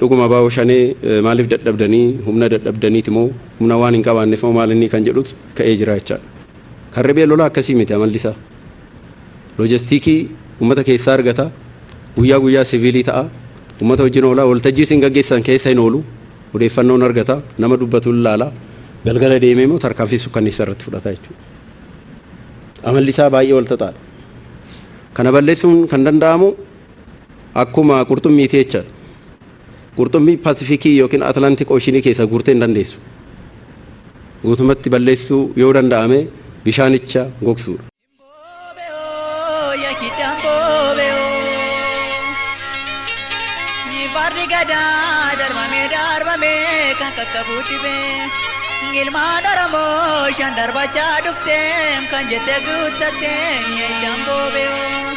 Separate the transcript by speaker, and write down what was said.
Speaker 1: Dhuguma Abaawo Shanee maaliif dadhabdanii humna dadhabdaniiti moo humna waan hin qabaanneef moo maal innii kan jedhut ka'ee jira jechaadha. Kan riphee lolaa akkasii miti amalli isaa. Loojastiikii ummata keessaa argata, guyyaa guyyaa siviilii ta'a, ummata wajjin oola, waltajjii isin gaggeessitan keessa hin oolu, odeeffannoo hin argata, nama dubbatu hin laala, galgala deemee immoo tarkaanfii sukkanneessaa irratti fudhata jechuudha. Amalli isaa baay'ee walxaxaadha. Kana balleessuun kan danda'amu Akkuma qurxummii teecha qurxummii Pasifikii yookiin Atlantik Ooshinii keessaa guurtee hin dandeessu. Guutumatti balleessuu yoo danda'ame bishaanicha gogsuu.
Speaker 2: Farri gadaa darbamee darbamee kan qaqqabuu dhibee ilmaan Oromoo shan darbachaa dhufteem kan jette guuttattee ni eeyyam boobee.